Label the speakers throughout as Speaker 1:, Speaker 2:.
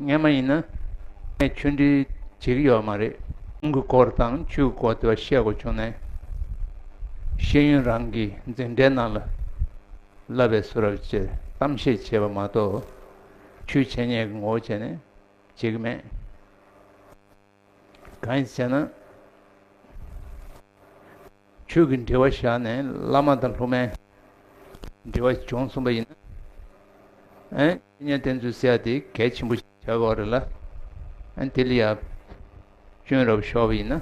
Speaker 1: ངས་མ་ཡིན་ན་ངས་ཆུ་འདྲི་བྱེད་ཀྱི་ཡོད་མ་རེད། ཁོང་གི་སྐོར་དང་ཆུའི་སྐོར་དེ་བ་བཤད་དགོས་བྱུང་ནས། ཤེས་ཡོན་རང་གི་འཛིན་གྲྭའི་ནང་ལ་བསླབ་པའི་སུ་རབ་ཅེས་གཏམ་བཤད་བྱས་པ་མ་གཏོགས། ཆུའི་བྱས་ཉེས་ཀྱི་ངོ་བོ་བྱས་ནས་བྱེད་ཀྱི་མེད། གང་ཡིན་ཟེར་ན། ཆོས་ཀྱི་འབྲེལ་བ་བཞག་ནས་བླ་མ་དང་སློབ་མའི་འབྲེལ་བ་སྦྱོང་གསུངས་པ་ཡིན་ན། ཨེ། གཉེན་བསྟེན་ཚུལ་ཟེར་བ་དེ་གལ་ཆེན་པོ་ཞིག་བྱ་བ་རེད་ལ། དེ་ལ་ཡང་སྐྱོན་རབ་ཤོར་བ་ཡིན་ན།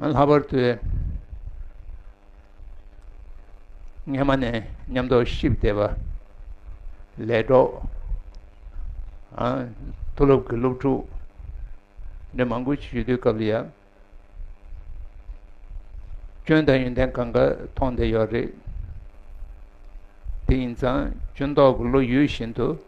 Speaker 1: ལྷག་པར་དུ་སྔ་མ་ནས་ཉམས་རྟོགས་བཞི་བདེ་བ་ལས་གྲོགས་མཐོ་སློབ་ཀྱི་སློབ་ཕྲུག་འདི་མང་པོ་ཞིག་ཞུས་དུས་སྐབས་ལ་ཡང་སྐྱོན་དང་ཡོན་ཏན་གང་ག་མཐོང་བསྡད་ཡོད་རེད་དེ་ཡིན་ཙང་སྐྱོན་རྟོགས་ཀྱི་བློ་ཡོད་བཞིན་དུ་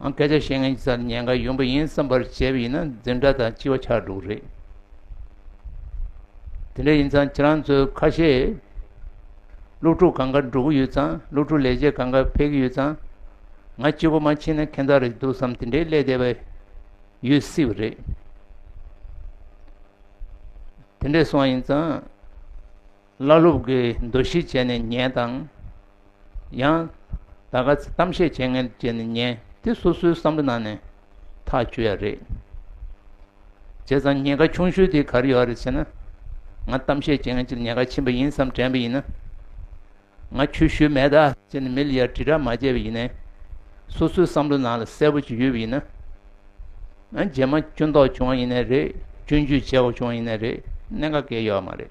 Speaker 1: སྐད་ཆ་བཤད་མཁན་གྱི་སར་ཉེན་ཁ་ཡོང་གི་ཡིན་བསམ་པར་བྱས་པ་ཡིན་ན་འཛིན་གྲྭ་དང་ལྕི་བ་ཆགས་འགྲོ་གི་རེད། དེ་འདྲ་ཡིན་ཙང་ཁྱེད་རང་ཚོས་ཁ་ཤས་སློབ་ཕྲུག་གང་དགར་འགྲོ་གི་ཡོད་ཙང་སློབ་ཕྲུག་ལས་བྱེད་གང་དགར་ཕེབས་ཀྱི་ཡོད་ཙང་ང་སྤྱི་བོ་མ་ཕྱིན་ན་ཁེན་ཐག་རིག་འདུག་བསམ་དེ་འདྲའི་ཀླད་བདེ་བ་ཡོད་སྲིད་པ་རེད། དེ་འདྲས་སོང་ཡིན་ཙང། བླ་སློབ་ཀྱི་འདུ་ཤེས་བྱས་ནས་ཉལ་དང། ཡང་དག་ག་ཚད་གཏམ་བཤད་བྱེད་ངེས་བྱས་ནས་ཉལ། དེ་སོ་སོའི་བསམ་བློ་ནང་ནས་ཐག་གཅོད་ཡ་རེད། བྱས་ཙང་ཉལ་ཁ་ཆུང་ཤོས་དེ་ག་རེ་ཡོད་རེད་ཟེར་ན། ང་གཏམ་བཤད་བྱེད་ངེས་ཀྱི་ཉལ་ཁ་ཕྱིན་པ་ཡིན་བསམ་དྲན་པ་ཡིན་ན། ང་ཆོས་ཞུས་མེད་ད་ཟེར་ནས་མི་ལ་ཡར་དྲིལ་བསྒྲགས་མ་བྱས་པ་ཡིན་ནས། སོ་སོའི་བསམ་བློ་ནང་ལ་གསལ་པོ་ཅིག་ཡོད་པ་ཡིན་ན། རྗེས་མ་སྐྱོན་འདོགས་བྱུང་བ་ཡིན་ནའི་རེད་སྐྱོན་བརྗོད་བྱས་བ་བྱུང་བ་ཡིན་ནའི་རེད་གནད་འགག་གལ་ཡོད་མ་རེད།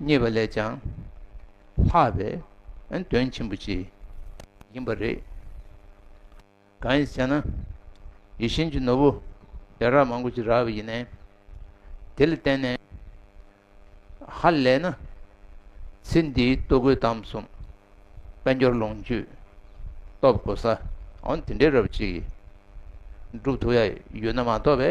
Speaker 1: རྙེད་པ་ལས་ཀྱང་ལྷག་པའི་དོན་ཆེན་པོ་ཅིག་ཡིན་པ་རེད། གང་ཡིན་ཟེར་ན། ཡིད་བཞིན་གྱི་ནོར་བུ་ཡ་རབས་མང་པོ་ཅིག་རགས་པ་ཡིན། དེ་ལ་བརྟེན་ནས་ཧ་ལས་ན་ཚེ་འདིའི་ལྟོ་གོས་དམ་གསུམ་དཔལ་འབྱོར་ལོངས་སྤྱོད་སྟོབས་གོ་ས་འོན་ཏེ་འདྲེས་རབས་ཅིག་སྒྲུབ་ཐུབ་ཡ་ཡོད་ན་མ་གཏོགས་པའི།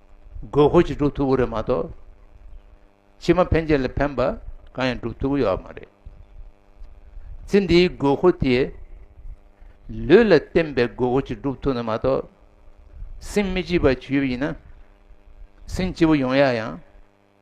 Speaker 1: དགོས་མཁོ་ཞིག་སྒྲུབ་ཐུབ་ཀྱི་རེད་མ་གཏོགས་ཕྱི་མ་ཕན་ཆད་ལ་ཕན་པ་གང་ཡང་སྒྲུབ་ཐུབ་ཀྱི་ཡོད་མ་རེད། ཚེ་འདིའི་དགོས་མཁོ་དེས་ལུས་ལ་བརྟེན་པའི་དགོས་མཁོ་ཞིག་སྒྲུབ་ཐུབ་ན་མ་གཏོགས་སེམས་མི་སྐྱིད་པ་བྱུས་ཡོད་ཡིན་ན་སེམས་སྐྱིད་པོ་ཡོང་ཡ་ཡང།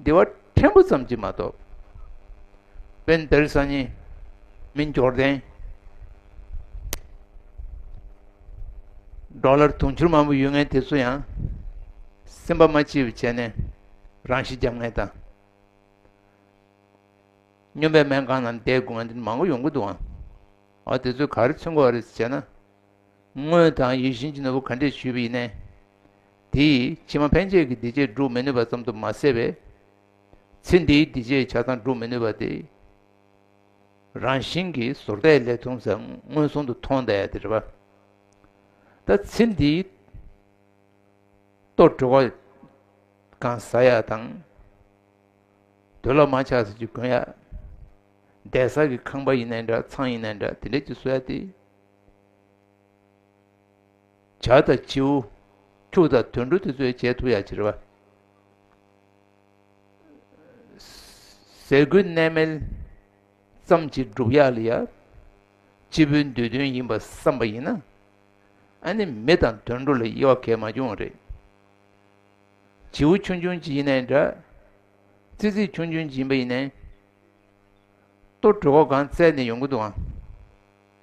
Speaker 1: བདེ་བ་ཕྲན་བུ་ཙམ་གྱིས་མ་གཏོགས། དཔལ་འདིར་གསང་སྙིང་མི་འགྱུར་ལྡན། འབྲོག་ལར་དུང་ཕྱུར་མང་པོ་ཡོད་ངེས་དེ་ཚོ་ཡང། སེམས་པ་མ་སྐྱིད་པ་བྱས་ནས་རང་ཤི་རྒྱབ་ངེས་དང། སྨྱོན་པའི་སྨན་ཁང་ནང་བསྡད་དགོས་ངེས་འདི་མང་པོ་ཡོང་གི་འདུག་ཨང། ཨ་དེ་ཚོས་ག་རེ་ཚུན་གོ་བ་རེད་ཟེར་ན། དངོས་དང་ཡིད་བཞིན་གྱི་ནོར་བུ་ག་འདྲས་བྱུས་པ་ཡིན་ནའི། དེས་ཕྱི་མ་ཕན་ཆད་ཀྱི་འདུས་བྱས་བསྒྲུབ་མི་ནུས་པ་ཙམ་དུ་མ་ཟད་པའི་ཚེ་འདིའི་འདུས་བྱས་ཆགས་སྡང་བསྒྲུབ་མི་ནུས་པ་དེ་རང་བཞིན་གྱིས་ཟོར་ལྟས་ལས་ཐུང་ཟད་མངོན་སུམ་དུ་མཐོང་སྟེ་རེད་པ། ད་ཚེ་འདིའི་ལྟོ་གྲོད་ཀ་གང་ཟ་ཡག་དང། དུ་ལ་མ་ཆགས་ཟིན་གྱི་གོན་ཡག། འདས་ཟག་གི་ཁང་པ་ཡིན་ན་འདྲ་ཚང་ཡིན་ན་འདྲ་དེ་འདྲས་ཀྱི་བཟོ་ཡག་སྟེ། བྱ་དང་བྱིའུ་ཕྱུགས་དང་དུད་འགྲོ་དེ་ཚོའི་རྗེས་མཐུད་ཡང་བྱེད། ཟས་གོས་གནས་མལ་ཙམ་གྱིས་འགྲུབ་ཡག་ལ་ཡག། སྤྱི་བོའི་འདོད་དོན་ཡིན་པར་བསམ་པ་ཡིན་ན། ཨ་ནི་མི་དང་དུད་འགྲོ་ལ་དབྱེ་བ་གལ་མ་བྱུང་བ་རེད། བྱིའུ་ཆུང་ཆུང་གཅིག་ཡིན་ནའི་འདྲ། ཙི་ཙི་ཆུང་ཆུང་གཅིག་ཡིན་པ་ཡིན་ནའི། ལྟོ་གྲོད་ཁོག་གང་བཙལ་ནས་ཡོང་གི་འདུག་ཨང།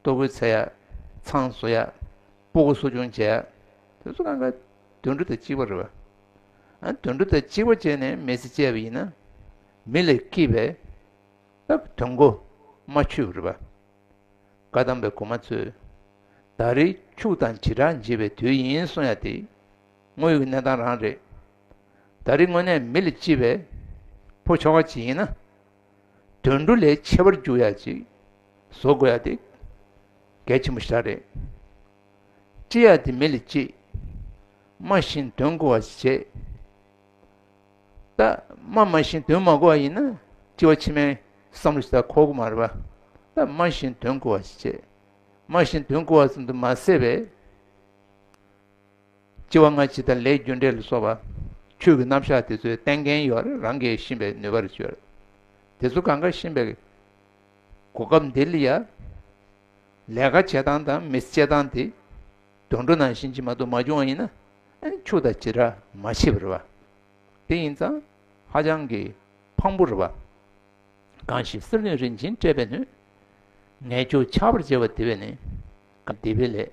Speaker 1: ལྟོ་གོས་ཚད་ཡག། ཚང་བཟོ་ཡག། སྤོ་གོ་གསོ་སྦྱོང་བྱེད་ཡག། དེ་ཚོ་ལ་དུད་འགྲོ་དང་གཅིག་པ་རེད་བ། དུད་འགྲོ་དང་གཅིག་པ་བྱས་ནས་མེ་ཚེ་བཅད་པ་ཡིན་ན། མི་ལས་སྐྱིད་པས། སྟབས་དོན་གོ་མ་ཆོད་པ་རེད་བ། བཀའ་གདམས་པའི་གོ་མ་ཚོས། ད་རེས་ཕྱུག་དང་བྱེ་བྲག་འབྱེད་པའི་དུས་ཡིན་གསུང་ཡ་དེ། དངོས་ཡོད་ཀྱི་གནས་སྟངས་རང་རེད། ད་རེས་དངོས་གནས་མི་ལས་སྐྱིད་པས། ཕོ་ཁྱོ་ག་ཅིག་ཡིན་ན། དུད་འགྲོ་ལས་ཆེ་བར་འགྱུར་ཡ་ཅིག་བཟོ་དགོས་ཡ་དེ་གལ་ཆེན་པོ་ཞིག་རེད། སྤྱི་ཡ་དེ་མི་ལ་སྤྱི། སྨྲ་བཞིན་དོན་གོ་བ་བྱེད། ད་སྨྲ་སྨྲ་བཞིན་དོན་མ་གོ་བ་ཡིན་ན་སྤྱི་བ་ཕྱི་མའི་བསམ་བློ་ཞིག་ད་ཁོག་གོ་མ་རེད་པ། ད་སྨྲ་བཞིན་དོན་གོ་བ་བྱེད། སྨྲ་བཞིན་དོན་གོ་བ་ཙམ་དུ་མ་ཟད་པའི། ལྕི་བ་སྔ་ཕྱི་དང་ལས་རྒྱུ་འབྲས་ལ་སོགས་པ་ཆོས་ཀྱི་རྣམ་གཞག་དེ་ཚོའི་རྟེན་རྐྱེན་ཡོད་ལ་རང་གིས་ཤེས་པའི་ནུས་པར་བཅོལ། དེ་ཚོ་གང་གཱ་ཤིན་པའི་གོ་སྐབས་འདི་ལ་ཡ། ལས་ཀ་བྱེད་སྟངས་དང་མི་སྤྱད་སྟངས་དེ་དུད་འགྲོ་ནང་བཞིན་ཇི་མ་ཏུ་མ་བྱུང་བ་ཡིན་ན། ཆུ་དང་བྱེ་བྲག་མ་ཕྱེད་པར་བ། དེ་ཡིན་ཙང་ཧ་ཅང་གི་ཕངས་པོར་བ། གང་ཞིག་སེམས་ནུས་རིན་ཆེན་སྤྲད་པའི་ནུས། ངས་ཆུ་ཆགས་པར་བྱེད་པ་དེ་བས་ནི་གང་དེ་བས་ལེགས།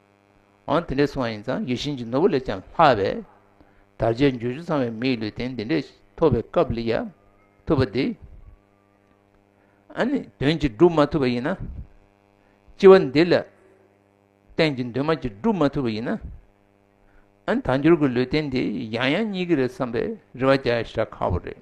Speaker 1: འོན་དེ་འདྲའི་གསུང་བ་ཡིན་ཙང་ཡིད་བཞིན་གྱི་ནོར་བུ་ལས་ཀྱང་ལྷག་པའི། དར་ཆའི་འགྱུར་ཆུ་ཚང་བའི་མིའི་ལུས་རྟེན་འདི་འདྲས་ཐོབ་པའི་སྐབས་ལ་ཡ། ཐུབ་པ་འདི། ཨཱ་ནི་དོན་གྱིས་བསྒྲུབ་མ་ཐུབ་པ་ཡིན་ན། ལྕི་བ་འདི་ལ། རྟེན་གྱི་འདུན་མ་གྱིས་བསྒྲུབ་མ་ཐུབ་པ་ཡིན་ན། ཨཱ་ནི་དར་འགྱུར་གྱི་ལུས་རྟེན་འདི་ཡང་ཡང་གཉིས་ཀྱི་རེད་བསམ་པའི་རེ་བ་རྒྱག་ཡ་ཤ་ཁག་པོ་རེད།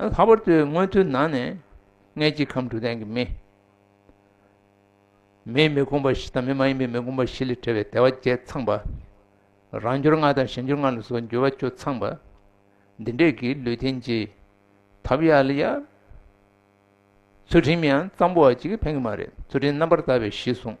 Speaker 1: ལྷག་པར་དུ་མངོན་མཐོའི་ནང་ནས་མངལ་གྱི་ཁམས་དྲུག་ལྡན་གྱི་མི། མིའི་མི་དགོངས་པ་བཞི་དང་མི་མ་ཡིན་པའི་མི་དགོངས་པ་བཞི་ལས་བྲལ་བའི་བདེ་བ་བརྒྱད་ཚངས་པ། རང་འབྱོར་ལྔ་དང་གཞན་འབྱོར་ལྔ་ལ་སོགས་འགྱུར་བ་བཅུ་ཚངས་པ། འདི་འདྲས་ཀྱི་ལུས་རྟེན་གྱི། ཐབས་ཡ། ཚུལ་ཁྲིམས་ཡང་གཙང་པོ་བ་གཅིག་གིས་ཕན་གྱི་མ་རེད་ཚུལ་ཁྲིམས་རྣམ་པར་དག་པའི་གཞི་གསུངས།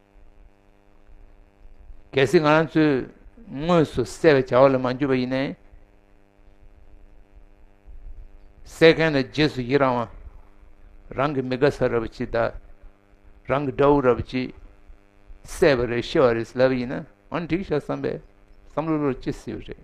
Speaker 1: གལ་སྲིད་ང་རང་ཚོས་དངོས་སུ་བསད་པའི་བྱ་བ་ལ་མ་འཇུས་པ་ཡིན་ནའི། བསད་མཁན་ལ་རྗེས་སུ་ཡི་རང་བ། རང་གི་མི་དགའ་ས་ར་བ་ཅིག་དང། རང་གི་དགྲ་བོ་ར་བ་ཅིག་བསད་པ་རེད་ཤི་བ་རེད་ཟེར་ལབ་ཡིན་ན་འང་འགྲིག་ཤག་བསམ་པའི་བསམ་བློ་ལོར་སྐྱེ་སྲིད་པ་རེད།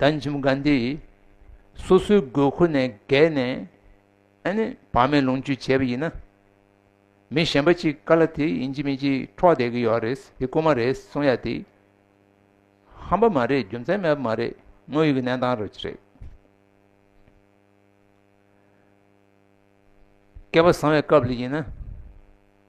Speaker 1: ཟླ་འཇིམ་དགའ་འདི་ཡིས་སོ་སོའི་དགོས་མཁོ་ནས་བརྒལ་ནས་བག་མེད་ལོངས་སྤྱོད་བྱས་པ་ཡིན་ན། མི་གཞན་པ་ཅིག་ཀ་ལ་དེ་ཡིན་གྱི་མིན་གྱི་འཕྲོག་བསྡད་ཀྱི་ཡོད་རེད་དེ་རྐུ་མ་རེད་གསུང་ཡ་དེ་ཧམ་པ་མ་རེད་རྒྱུ་མཚན་མེད་པ་མ་རེད་དངོས་ཡོད་ཀྱི་གནས་སྟངས་རེད། སྐལ་བ་བཟང་བའི་སྐབས་ལ་ཡིན་ན།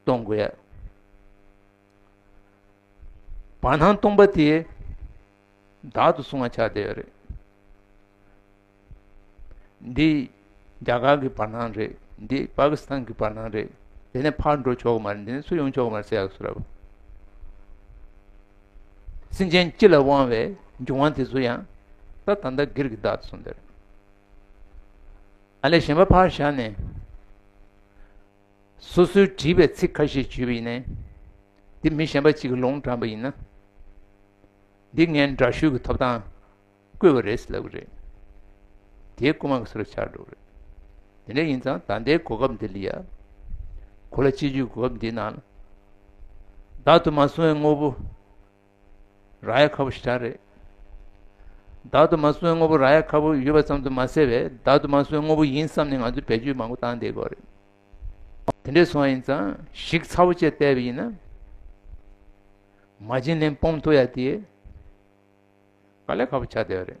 Speaker 1: སྟོང་དགོས། བར་སྣང་སྟོང་པ་དེ་བདག་ཏུ་བཟུང་བ་བྱ་བདེ་བ་རེད། འདི་རྒྱ་གར་གྱི་བར་སྣང་རེད་འདི་པ་ཀི་སི་ཐན་གྱི་བར་སྣང་རེད་དེ་ནས་ཕར་འགྲོ་ཆོག་གི་མ་རེད་འདི་ནས་ཚུར་ཡོང་ཆོག་གི་མ་རེད་ཟེར་ཡག་སུ་ར་བ། སེམས་ཅན་སྤྱི་ལ་དབང་བའི་འབྱུང་བ་དེ་ཚོ་ཡང་ད་ད་ལྟ་སྒེར་གྱི་བདག་ཏུ་བཟུང་བདེ་རེད། ཨ་ལས་གཞན་པ་ཕར་བཞག་ནས། སོ་སོའི་བྲིས་པའི་ཚིག་ཁ་ཤས་བརྗོད་པ་ཡིན། འདི་མི་གཞན་པ་གཅིག་གི་ལུང་དྲངས་པ་ཡིན་ན། འདི་ངས་འདྲ་བཤུས་ཀྱི་ཐོབ་ཐང་བཀོད་པ་རེད་ལབ་གི་རེད། དེའི་རྐུན་མ་གི་སོ་ར་ཆགས་འགྲོ་གི་རེད། དེ་འདྲ་ཡིན་ཙང་ད་ལྟའི་གོ་སྐབས་འདི་ལ་ཡ། གོ་ལ་གཅིག་གྱུར་གྱི་གོ་སྐབས་འདིའི་ནང་ལ། བདག་ཏུ་མ་བཟུང་བའི་དངོས་པོ་ར་ཡ་ཁ་པོ་ཞེས་བྱ་རེད། བདག་དུ་མ་བསོད་དངོས་པོ་ར་ཡ་ཁ་པོ་ཡོད་པ་ཙམ་དུ་མ་ཟད་པས་བདག་དུ་མ་བསོད་དངོས་པོ་ཡིན་བསམ་ནས་ང་ཚོས་བེད་སྤྱོད་མང་པོ་བཏང་བསྡད་དགོས་རེད། དེ་འདྲས་སོང་ཡིན་ཙང་ཞིག་ཚ་བོ་བཅས་བལྟས་པ་ཡིན་ན། མ་བྱིན་ལེན་སྤོམ་ཐུག་ཡ་དེས་དཀའ་ལས་ཁ་པོ་བྱ་བསྡད་པ་རེད།